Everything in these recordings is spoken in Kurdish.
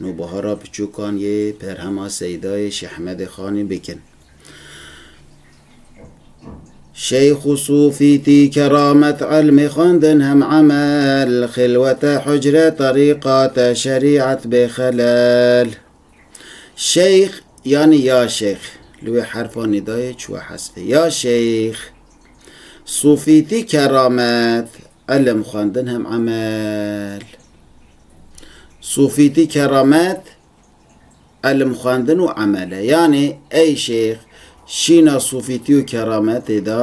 Nûbahara Piçûkan yê Berhema Seydayê Şehmedê Xanê bikin. Şeyx û Sûfî tî keramet elmê xwendin hem emel, xilwete hucre terîqate şerîet bê xelel. Şeyx yanî ya Şeyx li wê herfa nîdayê çûye hespê. Ya Şeyx. Sûfî tî keramet elm xwendin hem emel. Sofîtî keramet, elm xwendin û emel e. Yanê ey şêx şîna sofîtî û kerametê da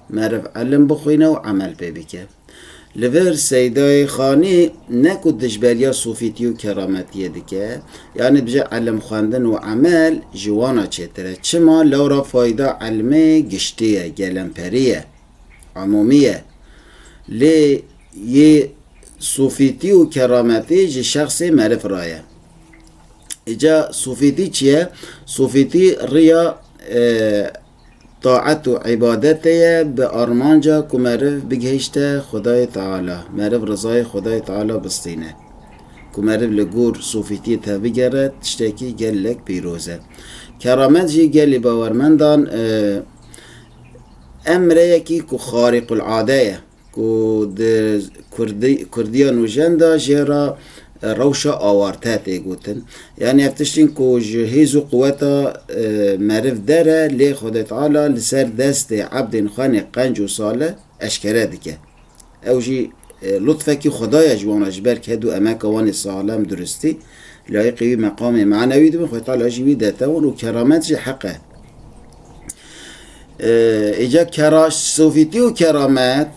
meriv elm bixwîne û emel pê bike. Li vir Seydayê Xanî ne ku dijberiya sofîtî û kerametiyê dike, yanê dije elm xwendin û emel ji wana çêtir e. Çima? Lewra fayda elmê giştî ye, gelemperî ye, emomî ye. Lê Yê sofîtî û kerametî ji şexsê meriv re ye. Îca sofîtî çi ye? Sofîtî riya taet û îbadetê ye bi armanca ku meriv bigihîşte Xwedayê Teala, meriv rizayê Xwedayê Teala bistîne. Ku meriv li gor sofîtiyê tevbigere tiştekî gelek pîroz e. Keramet jî gelê bawermendan emreyekî ku xarîqulade ye. Ku di Kurdiya nûjen de jê re rewşa awarte tê gotin. Yanî ev tiştên ku ji hêz û quweta meriv der e, lê Xwedê Teala li ser destê ebdên xwe nê qenc û salih eşkere dike. Ew jî lutfekî Xwedaya ji wan re ji ber ke du emeka wan ê salem duristî. Layiqê wî meqamê manewî dibin, xweta la jî wî detewin û keramet jî heq e. Îca ee, kera sovîtî û keramet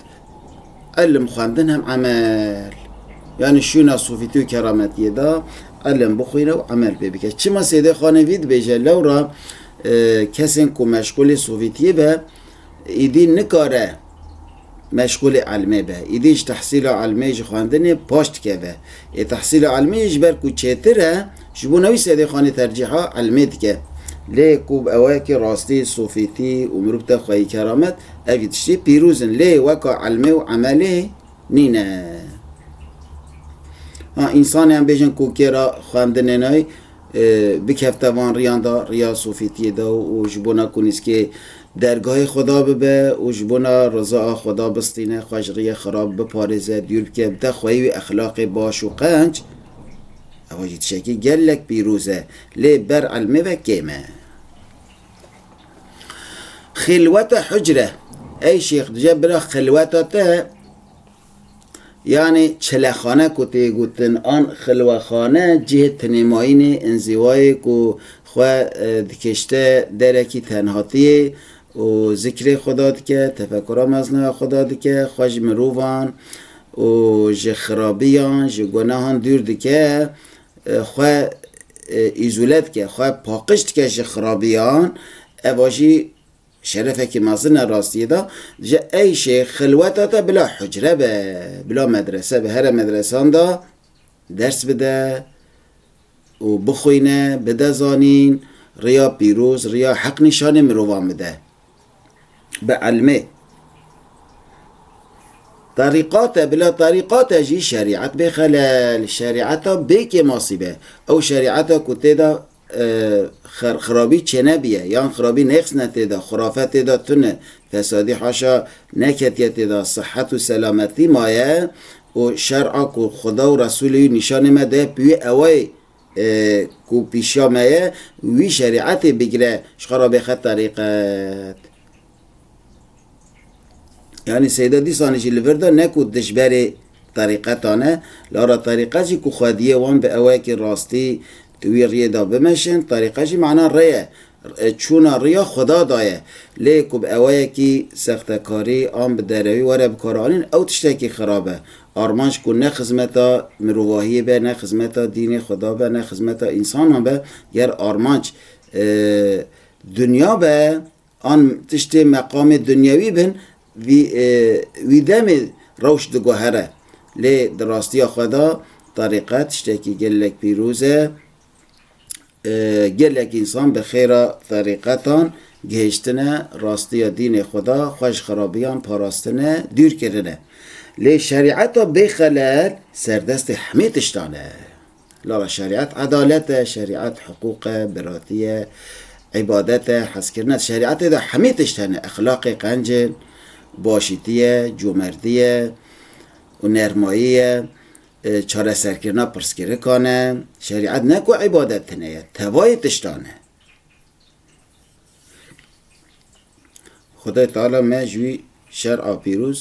ilim, xwendin hem emel. Yani şûna sovîtî û kerametiyê de ilim bixwîne û emel pê bike. Çima Sêdê Xanê vî dibêje lewra kesên ku meşgulê sovîtiyê be Êdî nikare meşxûlê elmê be. Êdî ji tehsîla elmê, ji xwendinê paş dikeve. Ê tehsîla elmê yê ji ber ku çêtir e, ji bo newî sedê xanê tercîha elmê dike. Lê ku ew e ki rastî, sofîtî û mirov te xweyî keramet, evî tiştî pîrûz in. Lê weka elmê û emelê nîne. Ha, însanê em bêjin ku kê re xwendinê nayê, bikevte van riyan de, riya Sofîtiyê de û ji bona ku nîzkê dergahê Xweda bibe û ji bona riza a Xweda bistîne, xwe ji riyê xirab biparêze, dûr bike, bide xweyî wî exlaqê baş û qenc, ewa jî tişekî gelek pîroz e. Lê ber ilmê ve kêm e. Xilwete hucre, ey şêx dije bira xilweta te, Yanî çilexane ku tê gotin an xilwexane cihê tinêmayînê, înzîwayê ku xwe dikişte derekî tenhatiyê û zikrê Xweda dike, tefekura mezna ya Xweda dike, xwe ji mirovan û ji xirabiyan, ji gunehan dûr dike, xwe îzole dike, xwe paqiş dike ji xirabiyan, ev a jî Şerefekî mezin e rastiyê de, ji eyşê xilweta te bila hucre be, bila medrese be here medresan de ders bide û bixwîne, bide zanîn, riya pîroz, riya heq nîşanê mirovan bide. Bi elmê. Terîqat e, bila terîqat e jî şerîet bê xelel, şerîeta bê kêmasî be. Ew şerîeta ku tê de xirabî çênebiye yan xirabî nêqs ne tê de, xurafe tê de tune, fesadî haşa neketiye tê de, sihet û selametî maye û şer a ku Xuda û Resûlê wî nîşanê me daye bi wî ewayê ku pîşiya me ye wî şerîetê bigire ji xwe re bê xeterîqet. Yani Seyda dîsanê jî li vir de ne ku dijberê terîqetan e, lara terîqet jî ku xwediyê wan bi ewayekî rastî di wî riyê de bimeşin, terîqet jî mana rê ye, çûna riya xweda da ye. Lê ku bi ewayekî sextekarî an bi derewî were bikaranîn ew tiştekî xirab e. Armanc ku ne xizmeta mirovahiyê be, ne xizmeta dînê xweda be, ne xizmeta însanan be, ger armanc dinya be, An tiştê meqamê dunyewî bin, vî wî demê rewş diguhere. Lê di rastiya xwe de terîqet tiştekî gelek pîroz e. Gelek însan bi xêra terîqetan gihêştine rastiya dînê xwe de, xwe ji xerabiyan parastine, dûr kirine. Lê şerîeta bêxelel serdestê hemî tiştan e. Lala şerîet edalet e, şerîet hiqûq e, biratî ye, îbadet e, hezkirin e. Di şerîetê de hemî tişt hene. Exlaqê qenc e, başîtî ye, comerdî ye û nermayî ye, çareserkirina pirsgirikan e. Şerîet ne ku îbadet tine ye, tevayê tiştan e. Xwedayê Teala me ji wî şer a pîroz.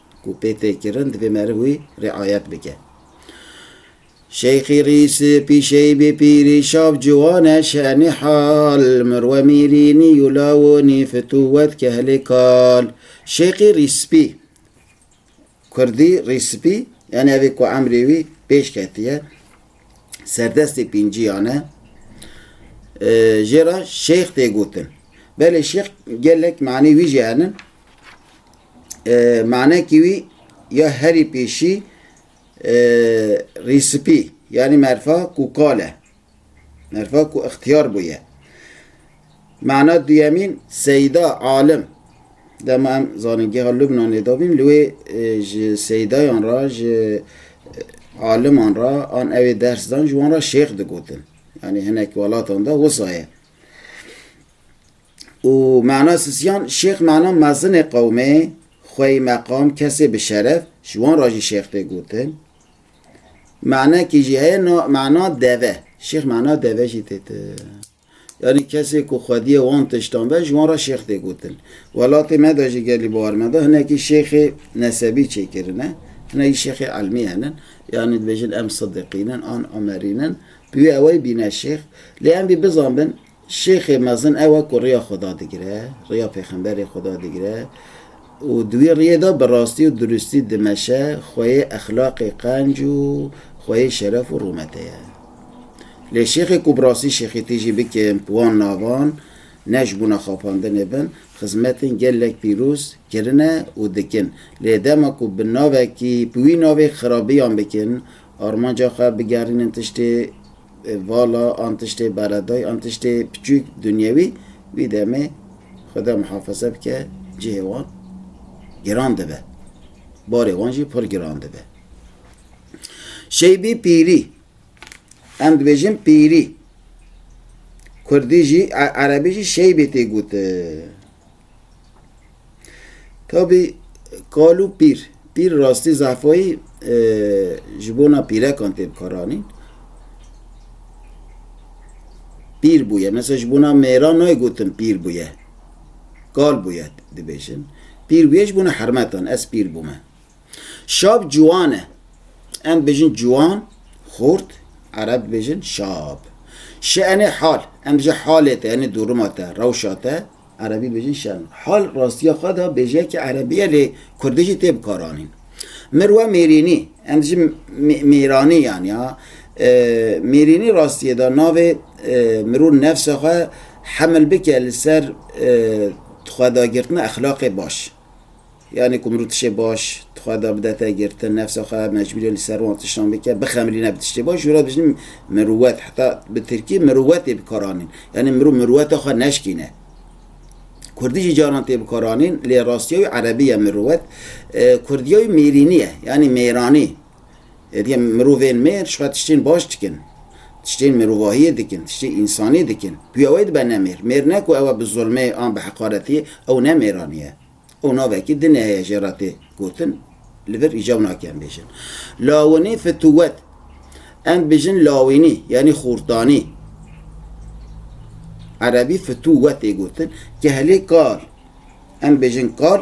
ku pê tê kirin divê meriv wî riayet bike. Şeyxî Rîs, pîşeyî bê pîrî şav ciwan e şenî hal, mirwe mîrînî yû lawonî fitûwet kehlê kal. Şeyxî Rîspî, kurdî Rîspî, yanî evê ku emrê wî pêş ketiye, serdestê pînciyan e. Jê re Şeyx tê gotin. Belê Şeyx gelek manê wî jî henin. manekî wî ya herî pêşî rîspî yanî merfa ku kal e. Merfa ku ixtiyar bûye. Mana duyemîn seyda alim. Dema em zanîn geha Lubnanê dabîn li wê ji seydayan re ji aliman re an ewê ders dan ji wan re şêx digotin. Yani hinek welatan da wisa ye. û Mena Sisiyan Şêx Mena mezinê qewmê xweyî meqam kesê bi şeref ji wan re jî Şêx tê gotin. Menekî jî heye na Mena Deve. Şêx Mena Deve jî tê ti. Yanî kesê ku xwediyê wan tiştan be ji wan re Şêx tê gotin. Welatê me de jî gelî bawar me de hinekî Şêxê nesebî çêkirine. Hinek jî Şêxê Elmî henin. Yanî dibêjin em Sidiqîn in an Umerîn in. Bi wî ewey bîne Şêx. Lê em bî bizanbin Şêxê mezin ew e ku riya Xweda digire, riya pêxemberê Xweda digire û di wî riyê de bi rastî û duristî dimeşe, xweyê exlaqê qenc û xweyê şeref û rûmetê ye. Lê şêxê ku bi rastî şêxîtî jî bike bi wan navan, ne ji bona xapandinê bin, xizmetên gelek pîroz kirine û dikin. Lê dema ku bi navekî, bi wî navê xirabiyan bikin, armanca xwe bigerînin tiştê Vala an tiştê beredayî an tiştê piçûk dunyewî wî demê Xweda muhafaze bike cihê wan giran dibe, barê wan jî pir giran dibe. Şeybî pîrî, em dibêjin pîrî. Kurdî jî, erebî jî şeybê tê gotin. Tabî kal û pîr. Pîr rastî zehfayî ji bona pîrekan tê bikaranîn. Pîr bûye. Mesela ji bona mêran nayê gotin pîr bûye. Kal bûye dibêjin. Pîr bûye ji bona hermetan. Ez pîr bûme. Şab ciwan e. Em dibêjin ciwan, xort, ereb dibêjin şab. Şenê hal. Em dibêjin halê te, enê dorima te, rewşa te. Erebî bêjin şerm e. Hal rastiya xwe da bêje ki erebî ye lê kurdî jî tê bikaranîn. Mir we mêrînî. Em dijîn mêranî yanî ha. Mêrînî rastiyê da navê mirov nefsa xwe hemil bike li ser xwedagirtina exlaqê baş. Yanî ku min rû tiştê baş di xwe de bide te girtin, nefsa xwe mecbûrî li ser wan tiştan bike, bixemilîne bi tiştê baş, jûra dijîn mirûwet, heta bi tirkî mirûwet tê bikaranîn, yanî mirov mirûweta xwe neşkîne. Kurdî jî caran tê bikaranîn, lê rastiya wî erebî ye mirûwet. Kurdiya wî mêrînî ye, yanî mêranî. Hêdî em mirovên mêr ji xwe tiştên baş dikin, tiştên mirovahiyê dikin, tiştê însanî dikin. Guya wê dibe ne mêr. Mêr ne ku ew e bi zulmê an bi heqaretî, ew ne mêranî ye. Ew navekî dinê heye jê re tê gotin, li vir îcar nake em bêjin. Lawinî fitûwet. Em dibêjin lawînî yanî xurtanî. Erebî fitûwet tê gotin. Kehlê kal. Em dibêjin kal.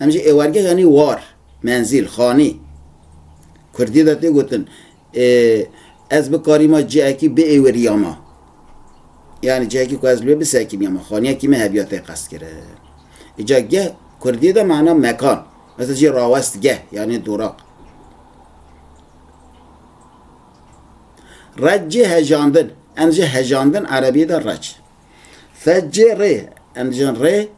Em ji êwargeh yanî war, menzîl, xanî. Kurdî de tê gotin ê ez bikarîma cihekî biêwirîyama. Yanî cihekî ku ez li wê bisekînîyama, xanîyekî me hebiya tê qestkirin. Îca geh kurdî de mana mekan. Mesela jî rawestgeh yanî duraq. Reç jî hejandin. Em dijin hejandin erebî de reç. Feç jî rê. Em dijin rê.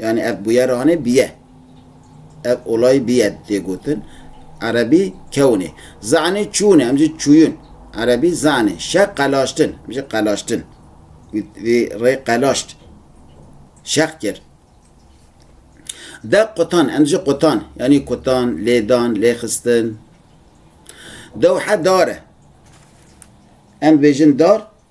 Yanî ev bûyeranê bîye. Ev olay bîye tê gotin. Erebî kewnê. Zanê çûne, em jî çûyûn. Erebî zanê. Şe qelaştin, em jî qelaştin. Vî rê qelaşt. Şeq kir. Dew qutan, em jî qutan. Yanî kutan, lêdan, lêxistin. Dewhe dare. Em bêjin dar,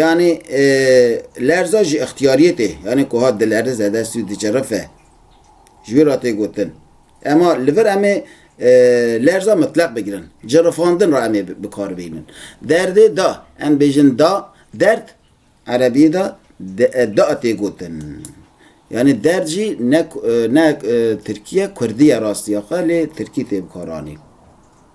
Yanî lerza ji îxtiyariyê tê, yanî ku hat dilerize, dest û dicirife. Ji wî re tê gotin. Ema li vir em ê lerza mitleq bigirin. Cirifandin re em ê bi kar bihînin. Derdê da, em bêjin da, derd, erebiyê de da tê gotin. Yanî derd jî ne ne tirkî ye, kurdî ye rastiya xwe lê tirkî tê bikaranîn.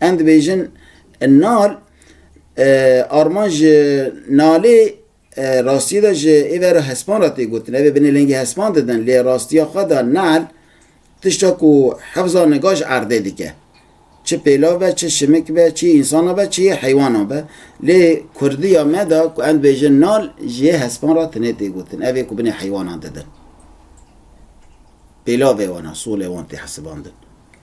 Em dibêjin Nal armanc ji Nalê rastiyê de ji êvera hespan re tê gotin. Ev ê binê lengê hespan didin lê rastiya xwe de Nal tişta ku hefza niga ji erdê dike. Çi pêlav be, çi şimik be, çi însanan be, çi yê heywanan be. Lê kurdiya me de ku em dibêjin Nal ji yê hespan re tinê tê gotin. Ev ê ku binê heywanan didin. Pêlavê wan e, solê wan tê hesibandin.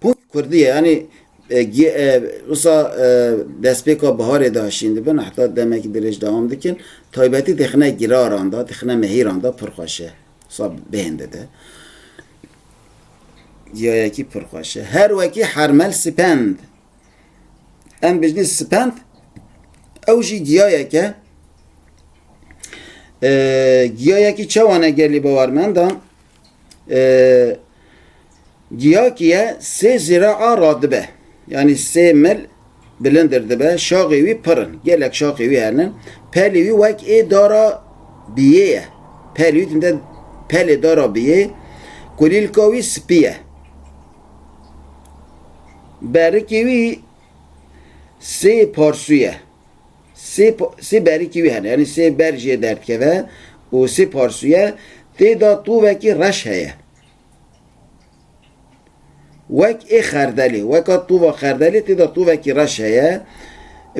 Pût Kurdiye yanî wisa destpêka biharê de şîndibin heta demekî dirêj dewam dikin. Taybetî dixine giraran de, dixine mehîran de pir xweş e. Wisa bêhn dide. Ciyayekî pir xweş e. Her wekî hermel spend. Em bijnî spend ew jî ciyayek e. Ciyayekî çewane gelî bawermendan Giyakiye sê zira a radibe. Yani sê mil bilindir dibe, şaxê wî pirin. Gelek şaxê wî hernin. Pelê wî wek ê dara biyê ye. Pelê wî tinde pelê dara biyê. Kulîlka wî spî ye. Berikê wî sê parsuye. Sê sê berikî wî hene yanî sê ber jê derdkeve û sê parsûye tê de tovekî reş heye. Wek ê xerdelê, weka tova xerdelê tê de tovekî reş heye.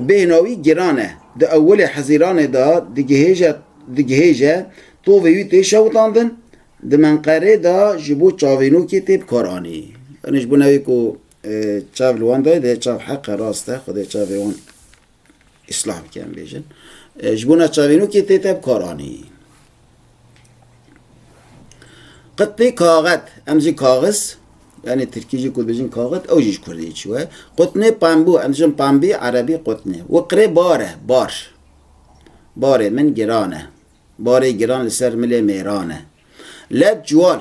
Bêhna wî giran e. Di ewilê Hezîranê de digihêje digihêje tovê wî tê şewitandin, di Menqerê de ji bo çavênokê tê bikaranî. Yanî ji bo navê ku çav li wan dayê dê çav heqe rast e xwedê çavê wan Îslamîk em bêjin. Ji bo neçavînokê tê te bi kar anî. Qet pê kaxet, em jî kaxiz, yanî tirkî jî ku dibêjin kaxet, ew jî ji kurdî çû ye. Qutnê pembû, em dijin pembî, erebî qutnê. Wi qirê bar e, bar. Barê min giran e. Barê giran li ser milê mêran e. Led ciwal,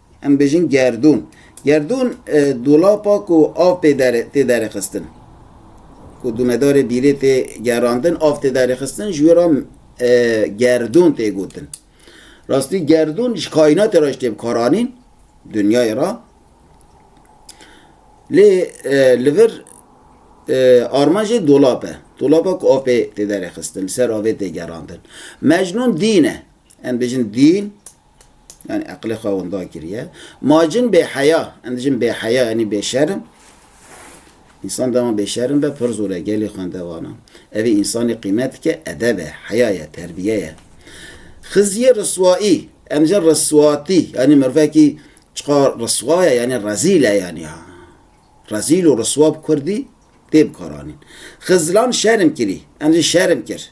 Em bêjin gerdûn. Gerdûn dolapa ku av pê tê derêxistin. Ku dûnedarê bîrê tê gerandin, av tê derêxistin ji wê re gerdûn tê gotin. Rastî gerdûn ji kaînatê re jî tê bikaranîn, dinyayê re. Lê li vir armanjê dolap e. Dolapa ku av pê tê derêxistin, li ser avê tê gerandin. Mecnûn dîn e. Em bêjin dîn, Yani eqlê xwe winda kiriye. Ma cin bêheya, em cin bêheya yani bêşerim. İnsan dema bêşerim be pir zor e gelê xwendevana. Evê insanê qîmet dike edeb e, heya ye, terbiye ye. Xiziyê riswaî, em cin riswatî yani merivekî çiqa riswa ye yani rezîl e yani ha. Rezîl û riswa bi kurdî tê bikaranîn. Xizlan şerim kirî, em cin şerim kir.